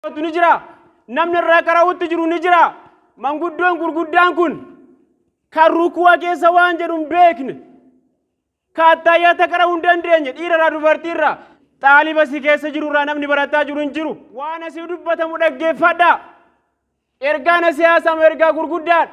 Kootu ni jira. Namni irraa qara'utti jiru ni jira. Manguddoon gurguddaan kun kan rukuwa keessa waan jedhu hin beekne. Kaattaayyata qara'uu hin dandeenye dhiirarraa dubartiirraa. Xaaliba si keessa jirurraa namni barataa jiru hin jiru. Waan asii dubbatamu dhaggeeffadhaa. Ergaan asii haasamu ergaa gurguddaadha.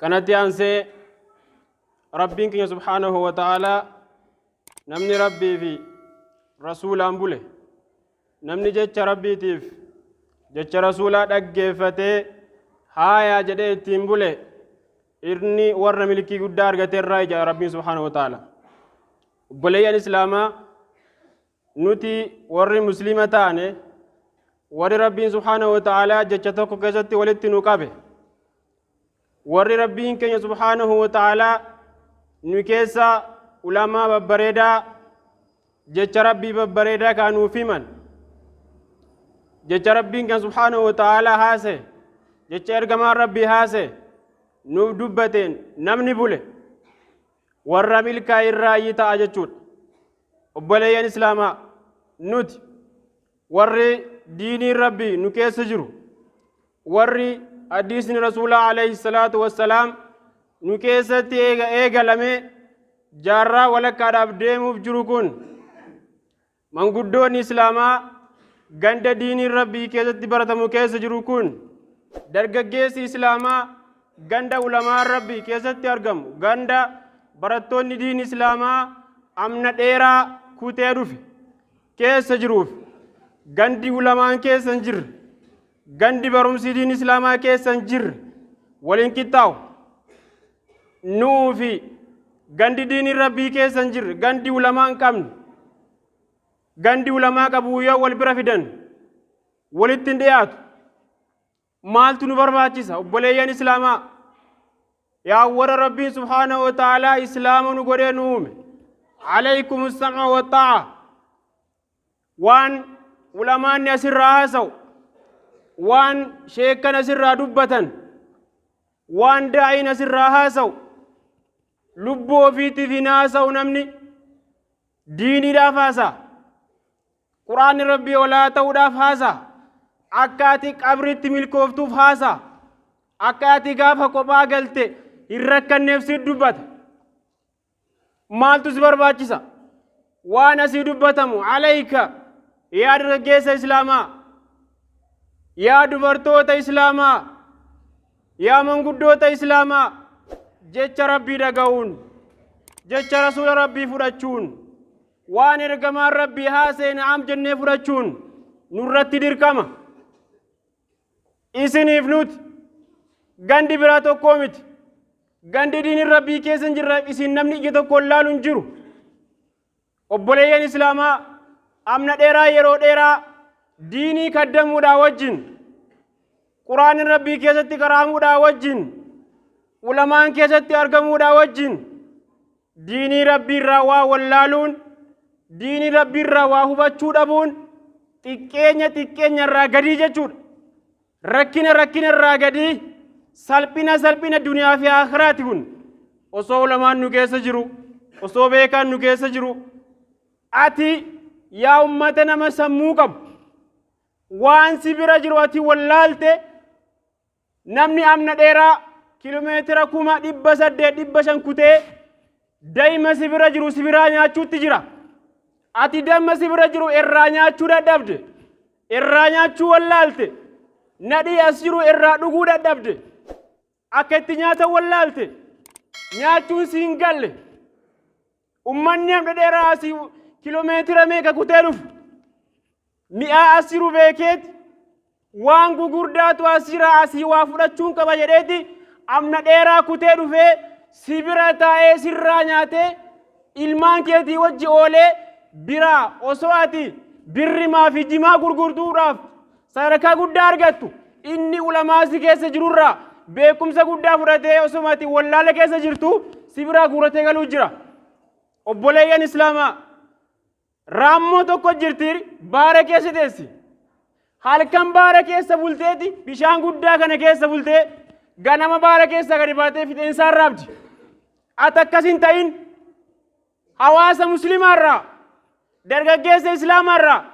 kanatti aansee rabbiin keenya subhaanahu wa ta'aalaa namni rabbii fi rasuulaan bule namni jecha rabbiitiif jecha rasuulaa dhaggeeffatee haayaa jedhee ittiin bule inni warra milkii guddaa argate irraa ija rabbiin subhaanahu wa ta'aalaa obboleeyyan islaamaa nuti warri muslima taane warri rabbiin subhaanahu wa ta'aalaa jecha tokko keessatti walitti nu qabe warri rabbiin keenya subhaanahu wa ta'aalaa nu keessa ulamaa babbareedaa jecha rabbii babbareedaa kaa nuuf himan jecha rabbiin kan subhaanahu wa ta'aalaa haase jecha ergamaan rabbii haase nuuf dubbateen namni bule warra milkaa'e irraayyi ta'a jechuudha. Obboleeyyan Islaamaa nuti warri diiniin Rabbii nu keessa jiru warri hadiisni Rasuulaa alayhi salaatu wassalaam nu keessatti eega eegalamee jaarraa walakkaadhaaf deemuuf jiru kun Manguddoon Islaamaa ganda diiniin Rabbii keessatti baratamu keessa jiru kun dargaggeessi Islaamaa ganda ulamaan Rabbii keessatti argamu ganda barattoonni diin Islaamaa amna dheeraa kutee dhufe keessa jiruuf gandi ulamaan keessa hin jirre Gandi barumsi diin Islaamaa keessa hin jirre wal hin qixxaawu. Nu'uu fi gandi diiniin Rabbii keessa hin jirre gandi ulamaa hin qabne gandi ulamaa qabu yoo wal bira fidan walitti hin dhiyaatu. Maaltu nu barbaachisa obboleeyyan Islaamaa? Yaa warra Rabbiin subhaanahu wa ta'aalaa Islaama nu godhee nu uume. Alaykum sam'a wa ta'a. waan ulamaanni asirraa haasa'u waan sheekkan asirraa dubbatan waan daa'iin asirraa haasa'u lubbuu ofiitiif hin haasa'u namni diiniidhaaf haasa'a quraanni rabbii olaa ta'uudhaaf haasa'a akka ati qabritti milkooftuuf haasa'a akka ati gaafa kophaa galte hin rakkanneef si dubbata maaltu si barbaachisa waan asii dubbatamu alayka yaa dargaggeessa islaamaa yaa dubartoota islaamaa yaa manguddoota islaamaa jecha rabbii dhaga'uun jecha rasuula rabbii fudhachuun waan ergamaan rabbii haaseena am jennee fudhachuun nurratti dirqama isiniif nuti gandi biraa tokkoo miti gandi diinin rabbii keessa hin jirre isin namni ija tokkoon laalu hin jiru obboleeyyan islaamaa amna dheeraa yeroo dheeraa diinii kaddamuudhaa wajjin quraanin rabbii keessatti qaraamuudhaa wajjin ulamaan keessatti argamuudhaa wajjin Diinii Rabbiirraa waa wallaaluun, diinii Rabbiirraa waa hubachuu dhabuun xiqqeenya xiqqeenyarraa gadii jechuudha. Rakkina rakkinarraa gadii, salphina salphina duniyaa fi akhiraati kun. Osoo ulamaan nu keessa jiru, osoo beekaan nu keessa jiru, ati yaa ummata nama sammuu qabu, waan si bira jiru ati wallaalte Namni amna dheeraa kilomeetira kuma dhibba saddeet dhibba shan kutee daima si bira jiru si biraa nyaachuutti jira. Ati damma si bira jiru irraa nyaachuu dadhabde. Irraa nyaachuu wallaalte. Nadhii as jiru irraa dhuguu dadhabde. Akka itti nyaatan wallaalte. Nyaachuun si hin galle. Ummanni hamma dheeraa asii kilomeetira meeqa kutee dhufu? Mi'aa asiru beekeeti waan gugurdaatu asiraa asii waa fudhachuun qaba jedheeti amna dheeraa kutee dhufee si bira taa'ee sirraa nyaatee ilmaan keetii wajji oolee biraa osoo ati birri maafi jimaa gurgurtuudhaaf Sadarkaa guddaa argattu. Inni ulamaa si keessa jirurraa beekumsa guddaa fudhatee osuma ati wallaala keessa jirtu si biraa guuratee galuu jira. Obboleeyyan Islaamaa raammoo tokko jirti baara keessa teessi. Halkan baara keessa bulteeti bishaan guddaa kana keessa bultee ganama baara keessaa gadi baatee fixeensaan raabdi. Ati akkas hin ta'in Hawaasa muslimaa irraa, dargaggeessa islaamaa irraa,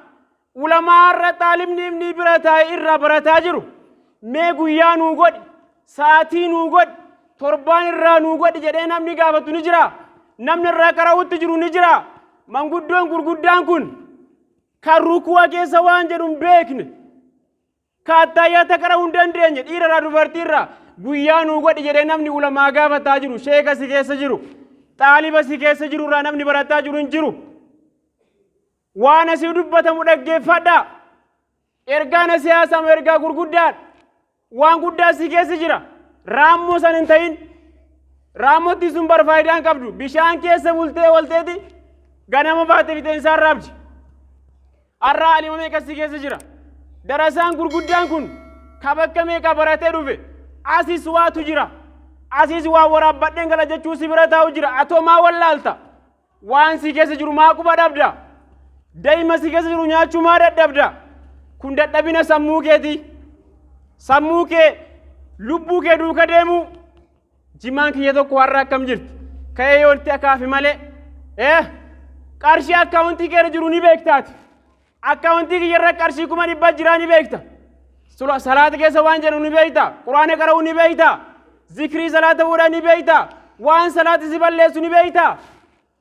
ulamaa irra xaalibni ibnii bira taa'e irraa barataa jiru mee guyyaa nuu godhi, sa'aatii nuu godhi, torbaan irraa nuu godhi jedhee namni gaafatu ni jira. Namni irraa qara'utti jiru ni jira. Manguddoon gurguddaan kun kan rukuwa keessa waan jedhu hin beekne. Kaattaayyaa taqara'uu hin dandeenye dhiirarraa dubartiirraa guyyaa nuu godhi jedhee namni ulamaa gaafataa jiru sheeka si keessa jiru xaaliba si keessa jiru irraa namni barataa jiru hin jiru. Waan asii dubbatamu dhaggeeffadhaa. Ergaan asii haasamu ergaa gurguddaadha. Waan guddaa si keessa jira. Raammoo san hin ta'in. Raammotti sun bar faayidaa hin qabdu. Bishaan keessa bultee walteeti ganama baate fixeensaan raabdi. Arraa alima meeqa si keessa jira? Darasaan gurguddaan kun ka bakka meeqa baratee dhufe? Asis waatu jira. Asis waa waraabbadheen gala jechuu si bira taa'u jira. Atoo maa wallaalta? Waan si keessa jiru maa quba dhabda? Daa'ima si keessa jiru nyaachuu maa dadhabda? Kun dadhabina sammuu keetii. Sammuu kee, lubbuu kee duuka deemuu. Jimaan kiyya tokko har'a akkam jirti? Ka'ee yoo itti akaafe malee. Ee qarshii akkaawuntii keerra jiru ni beektaati. Akkaawuntii kiyyarra qarshii kuma dhibba jiraa ni beekta. Sula- Salaata keessa waan jedhu ni beekta. Quraana qara'uu ni beekta. Zikrii salaata fuudhaa ni beekta. Waan salaati si balleessu ni beekta.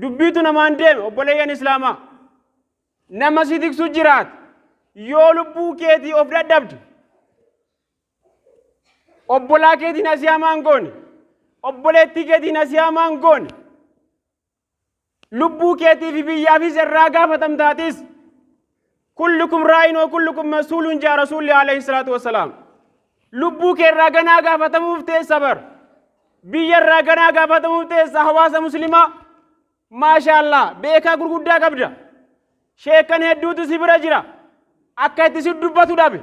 Dubbiitu namaan deeme obboleeyyan Islaamaa. Nama si tiksu jiraata. Yoo lubbuu keetii of dadhabde obbolaa keetiin asii hamaan goone obboleettii keetiin asii hamaan goone lubbuu keetii fi biyyaafis irraa gaafatamtaatis. Kullukum raa'in wa kullukum mas'uulun jaa rasuulli alayhi salaatu wassalaam. Lubbuu kee irraa ganaa gaafatamuuf teessa bar. Biyya irraa ganaa gaafatamuuf teessa hawaasa muslimaa. Maashaallah beekaa gurguddaa qabda. Sheekan hedduutu si bira jira. Akka itti si dubbatu dhabe.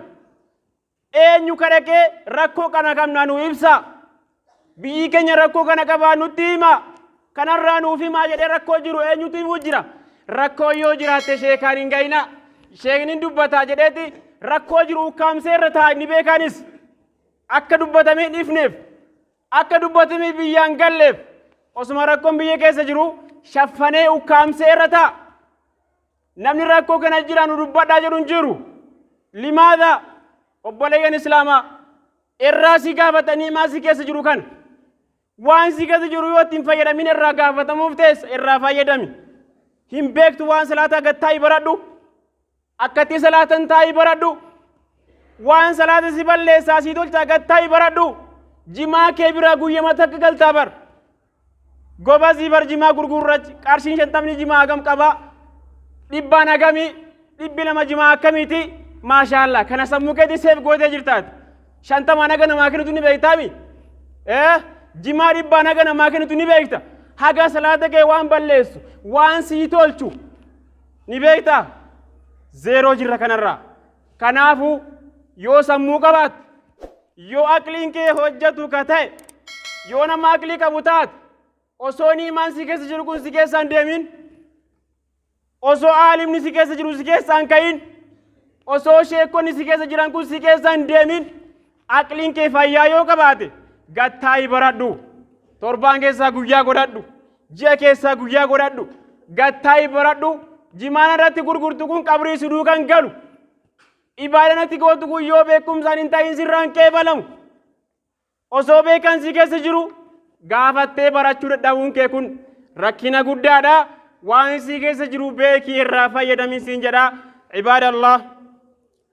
Eenyu ka dhaqee rakkoo kana qabna nu ibsa. Biyyi keenya rakkoo kana qabaa nutti hima. Kanarraa nuuf himaa jedhee rakkoo jiru eenyutu himuu jira. Rakkoo yoo jiraatte sheekaan hin gayina. Sheekni dubbataa jedheeti rakkoo jiru ukkaamsee irra taa'a inni beekaanis. Akka dubbatamee hin ifneef. Akka dubbatamee biyyaan galleef. Osuma rakkoon biyya keessa jiru shaffanee ukkaamsee irra taa'a. Namni rakkoo kana jira nu dubbadhaa jedhu hin jiru. Limaadha obboleeyyan Islaamaa irraa si gaafatanii maa si keessa jiru kana. Waan si keessa jiru yoo ittiin fayyadamin irraa gaafatamuuf teessa irraa fayyadami. Hin beektu waan salaataa gad taa'ii baradhu. Akkatti salaatan taa'ii baradhu. Waan salaata si balleessaa si tolchaa gad taa'ii baradhu. Jimaa kee biraa guyyama takka galtaa bar. Gobazii bar jimaa gurguurrach qarshiin shantamni jimaa hagam qabaa? Dhibbaan hagamii? Dhibbi lama jimaa akkamiiti? Maashaallah kana sammuu keetii seef gootee jirtaati. Shantamaan haga namaa kennitu ni beektaami? Ee jimaa dhibbaan haga namaa kennitu ni beekta. Haga salaata kee waan balleessu waan sii tolchu ni beektaa? Zeeroo jirra kanarraa. Kanaafuu yoo sammuu qabaatte, yoo aqliin kee hojjetu ka ta'e, yoo nama aqlii qabu taate, osoo niimaan si keessa jiru kun si keessaan deemin, osoo aalimni si keessa jiru si keessaan ka'in, osoo sheekonni si keessa jiran kun si keessaan deemin, Aqliin kee fayyaa yoo qabaate gad taa'i baradhu. Torbaan keessaa guyyaa godhadhu. Ji'a keessaa guyyaa godhadhu. Gad taa'i baradhu. Jimaan irratti gurgurtu kun qabrii si duukan galu. Ibaadaan itti gootu kun yoo beekumsaan hin ta'in sirraan qeebalamu. Osoo beekan si keessa jiru gaafattee barachuu dadhabuun kee kun rakkina guddaadha. Waan si keessa jiru beekii irraa fayyadamii siin jedha. Ibaadallah.